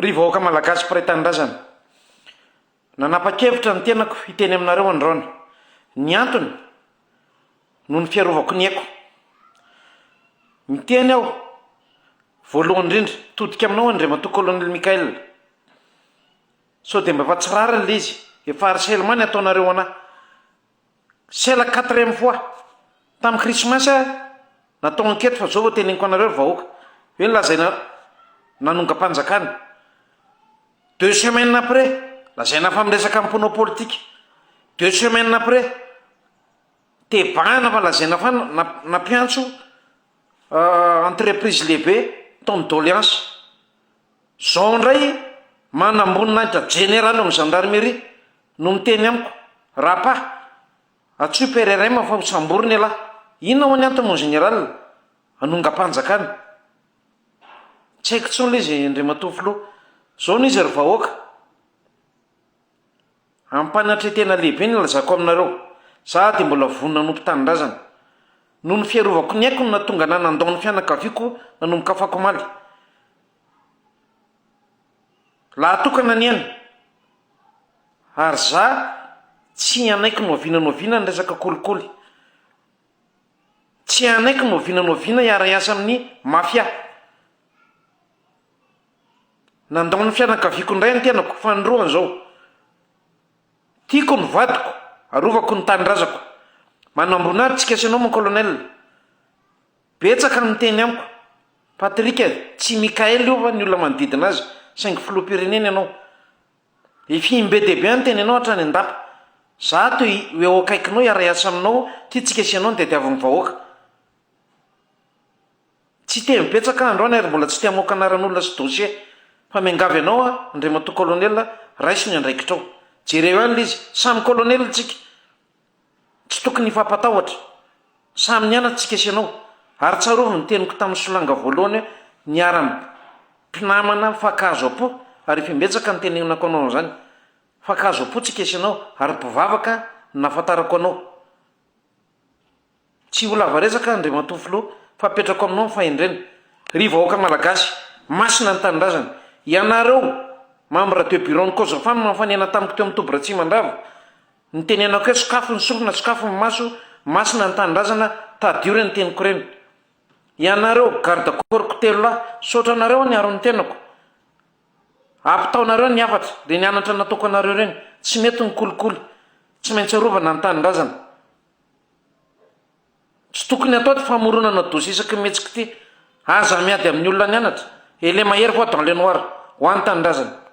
Ry vahoaka Malagasy mpiray tanindrazana, nanapa-kevitra ny tenako hiteny aminareo androany. Ny antony, noho ny fiarovako ny aiko. Miteny aho, voalohany indrindra, todika aminao Andriamatoa Colonel Michael. Sao dia mba efa tsy rariny ilay izy, efa harcèlement ny ataonareo an'ahy. C'est la quatrième fois, tamin'ny krismasy aho natao enquête fa zao vao teneniko anareo ry vahoaka, hoe nolazaina nanongam-panjakana, deux semaines après lazaina fa miresaka mponao politika, deux semaines après tebahana fa lazaina fa nampiantso entreprise lehibe ton'ny doleansa. Zao indray manamboninahitra jeneraly ao amin'ny gendarmerie no miteny amiko, Rapa, antsoy PRRM fa ho samborina ialahy. Inona ho'a ny antony mon général? Hanongam-panjakana. Tsy haiko intsony ilay izy Andriamatoa Filoha. Zao no izy ry vahoaka. Ampanantretena lehibe ny lazako aminareo, za dia mbola vonona hanompo tanindrazana. Noho ny fiarovako ny aiko no nahatonga anah nandao ny fianakaviako nanomboka afaka omaly. Lahy tokana anie aho, ary za tsy hanaiky nohaviana nohaviana ny resaka kolikoly. Tsy hanaiky nohaviana nohaviana hiara-hiasa amin'ny mafia. Nandao ny fianakaviako indray ny tenako faninroany izao. Tiako ny vadiko, arovako ny tanindrazako. Manambona ahy tsika sy ianao mon colonel. Betsaka ny miteny amiko. Patrick, tsy Mickaël io va ny olona manodidina azy, saingy filoham-pirenena ianao. Efihim be dia be aho niteny anao hatrany an-dapa. Za ato ho eo akaikinao hiara-hiasa aminao, tia tsika sy ianao ny tadiavin'ny vahoaka. Tsy hiteny betsaka aho androany ary mbola tsy te hamoaka anaran'olona sy dosie fa miangavy anao aho Andriamatoa Colonel raiso ny andraikitrao. Jereo ihany le izy, samy Colonel tsika, tsy tokony hifampatahotra, samy nianatra tsika sy ianao. Ary tsarovy ny teniko tamin'ny solanga voalohany hoe miharam pinamana mifankahazo am-po ary efa imbetsaka no tenenako anao an'izany. Mifankahazo am-po tsika sy ianao ary mpivavaka no nahafantarako anao. Tsy ho lava resaka, Andriamatoa Filoha, fa apetrako aminao ny fahendrena. Ry vahoaka Malagasy, masina ny Tanindrazana. Ianareo, Membres de Bureau ny Cogefa no nanofanena tamiko teo amin'ny toby Ratsimandrava. Nitenenako hoe sokafy ny sorona, sokafy ny maso, masina ny Tanindrazana, tadidio ireny teniko ireny. Ianareo, Garde Corps-ko telo lahy, misaotra anareo aho niaro ny tenako. Ampitaonareo ny hafatra, dia ny anatra nataoko anareo ireny, tsy mety ny kolikoly, tsy maintsy arovana ny tanindrazana. Tsy tokony hatao ity famoronana dossier isaky ny mihetsika ity. Aza miady amin'ny olona nianatra, et le mahery voa dans le noir, ho an'ny tanindrazana.